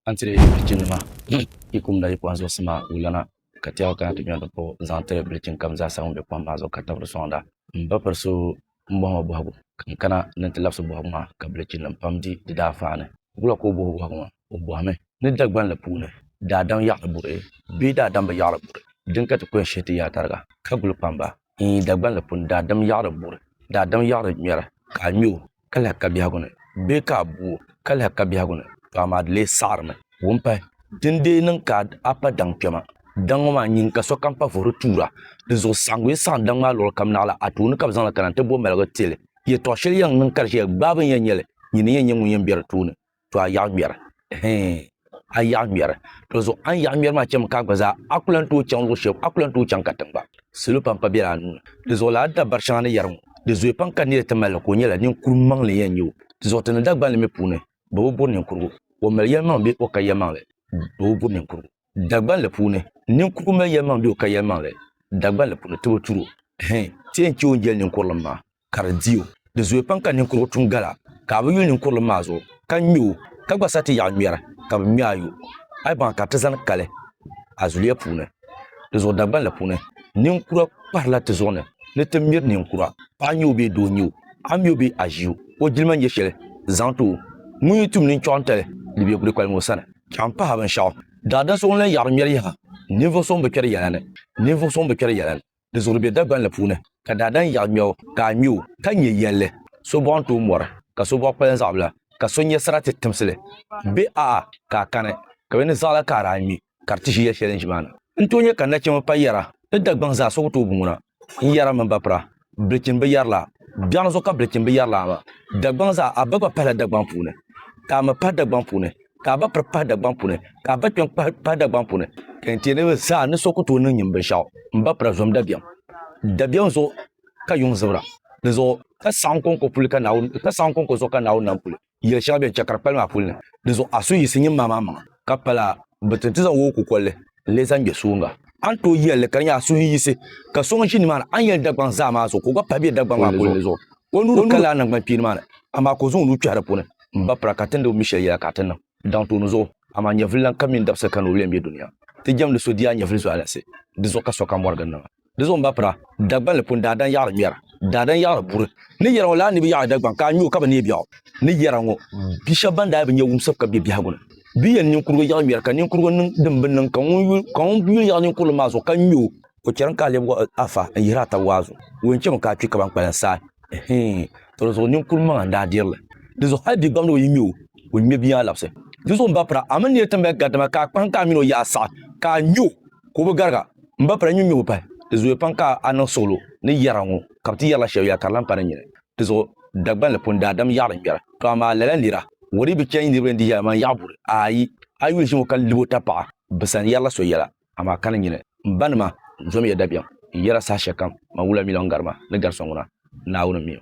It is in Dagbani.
a ni tiri bilichinima yi kum la yi pɔhim zuɣusi maa wulana ka tɛhigu kana ti gbɛni ti kpuɣi n-zaŋ tiri bilichin kam zaa sa ŋun be kom maa zuɣu ka tibiri sɔŋda. M ba piri so m bɔhima bɔhigu ka n kana ni n ti labisi bɔhigu maa ka bilichinnim pam di di daafaa ni. Wula ka o bɔhi bɔhigu maa? O bɔhimi ni Dagbanli puuni daadam yaɣiri buri bee daadam bi yaɣiri buri din ka ti kɔhi shɛli ti yaa tariga ka guli kpamba? Iin, Dagbanli puuni daadam yaɣiri buri, daadam yaɣiri ŋmɛri ka a ŋme o. ka lahi ka biɛhigu ni bee ka a bu o ka lahi ka biɛhigu ni, tɔ amaa di lee saɣirimi. Wumpahi, din deei niŋ ka a pa daŋ kpɛma. Daŋ ŋɔ maa nyin ka sokam pa vuhiri tuura. Dinzuɣu saɣiŋgu yi saɣim daŋ maa luɣili kam naɣ la a tooni ka bɛ zaŋ li kana nti bo maligu ti li. Yɛtɔɣ shɛli yɛn niŋ ka di ʒiya, Gbaai bɛ ni yɛn nya li, nyini n-yɛn nyɛ ŋun yɛn be di tooni. to a yaɣa ŋmɛri hee a yaɣa ŋmɛri to zuɣu a ni yaɣa ŋmɛri maa chɛmi ka a gba zaa a ku lahi tooi chaŋ luɣu shɛli a ku lahi tooi chaŋ ka tiŋ gba salo pam pa biɛla a nuuni di zuɣu laa dabari shɛŋa ni yɛri ŋɔ di zooi pam ka neeri ti mali li ka o nyɛla ninkuri maŋli n yɛn nyɛ o di zuɣu ti ni Dagbanli mi puuni bɛ bi buri ninkurigu o mali yɛlimaŋli bee o ka yɛlimaŋli bɛ bi buri ninkurigu Dagbanli puuni ninkurigu mali yɛlimaŋli bee o ka yɛlimaŋli Dagbanli puuni ti bi turi o hee ti yɛn chɛ o ni jɛli ninkurilim maa ka di di o. Di zooya pam ka ninkurigu tum gala ka a bi yuli ninkurili maa zuɣu ka ŋme o ka gba sa ti yaɣi ŋmɛri ka bɛ ŋme a yo. A yi baŋ ka ti zani kali a zuliya puuni di zuɣu Dagbanli puuni, ninkura kpahirila ti zuɣu ni ni ti miri ninkura, paɣa nye o bee doo nye o, a ŋme o bee a ʒi o, o jilima nye sheli zaŋ ti o. Ŋun yi tum ninchɔɣu n-tali li be kuli kpali ŋɔ sani ka m pahi a binshɛɣu. Daadam so ŋun lahi yaɣiri ŋmɛri yaha, ninvuɣ so ŋun bi kpɛri yɛla ni, ninvuɣ so ŋun bi kpɛri yɛla ni. di zuɣuri be Dagbanli puuni, ka daadam yaɣi ŋmɛbu ka a ŋme o, ka nya yɛlli, So bɔɣu n-tooi mɔri, ka so bɔɣu kpalim zaɣibila, ka so nya sarati timsili be a a ka a kani, ka bɛ ni zaɣila ka a daa ŋme, ka di ti ʒi yɛl shɛli n ʒi maa ni. N tooi nya ka nachimba pa yɛra ni Dagbaŋ zaa so ku tooi boŋo na, n yɛra mini bapira, Bilichini bi yɛrilaa, biɛɣuni zuɣu ka bilichini bi yɛrilaa maa, Dagbaŋ zaa a ba gba pahila Dagbaŋ puuni, ka a mi pahi Dagbaŋ puuni, ka a ba piri pahi Dagbaŋ puuni ka a ba kpɛm pahi Dagbaŋ puuni ka yɛn tiɛ niriba zaa ni so ku tooi niŋ nyin binshɛɣu n ba pira zom dabiɛm dabiɛm zuɣu ka yuŋ zibira di zuɣu ka saɣim kɔŋko puli ka Naawuni ka saɣim kɔŋko zuɣu ka Naawuni nam puli yɛli shɛŋa bɛn chɛ ka di kpali maa puli ni di zuɣu a suhu yiɣisi nyin maa maa maŋa ka pala bi ti ti zaŋ o o kukolli n lee zaŋ gbe suhiŋga. A ni tooi yɛl li ka di nyɛ a suhu yiɣisi ka so ŋun ʒi nimaani a ni yɛli Dagbaŋ zaa maa zuɣu ka o gba pahi be Dagbaŋ maa kulinli zuɣu. O nuu di kali a naŋgban kpiini maa ni, amaa ka o zaŋ o nuu kpɛhi di puuni m-ba pira ka tindi o mi shɛli yɛla ka a ti niŋ daŋ tooni zuɣu. Amaa nyɛvili lan ka mini dabisili ka ni o lee be dunia. Ti jɛmdi so di yaa nyɛvili zualinsi, di zuɣu ka sokam mɔri gindi maa. Di zuɣu m-bapira, Dagbanli pun daa dan yaɣiri ŋmɛra, daa dan yaɣiri buri. Ni yɛra ŋɔ, lala ni bi yaɣiri Dagbaŋ ka a ŋme o ka bi neei biɛɣu. Ni yɛra ŋɔ, bi shɛba ban daa bi nya wumsibu ka be biɛhigu ni, bɛ yɛn ninkurugu yaɣi ŋmɛri, ka ninkurugu niŋ din bi niŋ, ka ŋun yuli yaɣi ninkurili maa zuɣu ka ŋme o. O chɛrimi ka a lɛbi waɣi a fa n-yihiri a tab waa zuɣu, o ni chɛmi ka a kpi ka ban kpalim saai. Ɛhii! Tɔ di zuɣu ninkur maŋa n-daa diri li. Di zuɣu hal bigbam ni o yi ŋme o, o ni ŋme bia maa labisi. Di zuɣu m-bapira, a mini neei ti mali gari, dama ka a kpahim ka a mini o yaɣi saɣi, ka a ŋme o, ka o bi gariga. M ba pala nyunyubu pahi, di zooya pam ka a niŋ suɣulo ni yɛra ŋɔ, ka bɛ ti yɛrila shɛb ya ka di lan pa ni nyini. Di zuɣu Dagbanli pun daa dam yaɣili ŋmɛra, To amaa lala n-lira, Wari bi chɛ yi niriba ni di yɛla man Yaɣiburi, aai! A yuli ʒim o ka lib o tapaɣa bɛ sani yɛrila so yɛla, amaa ka ni nyini. M banima, n zom ya dabiɛm n yɛra saha shɛlikam man wula mi lan gari ma ni gari so ŋuna, Naawuni m-mi o.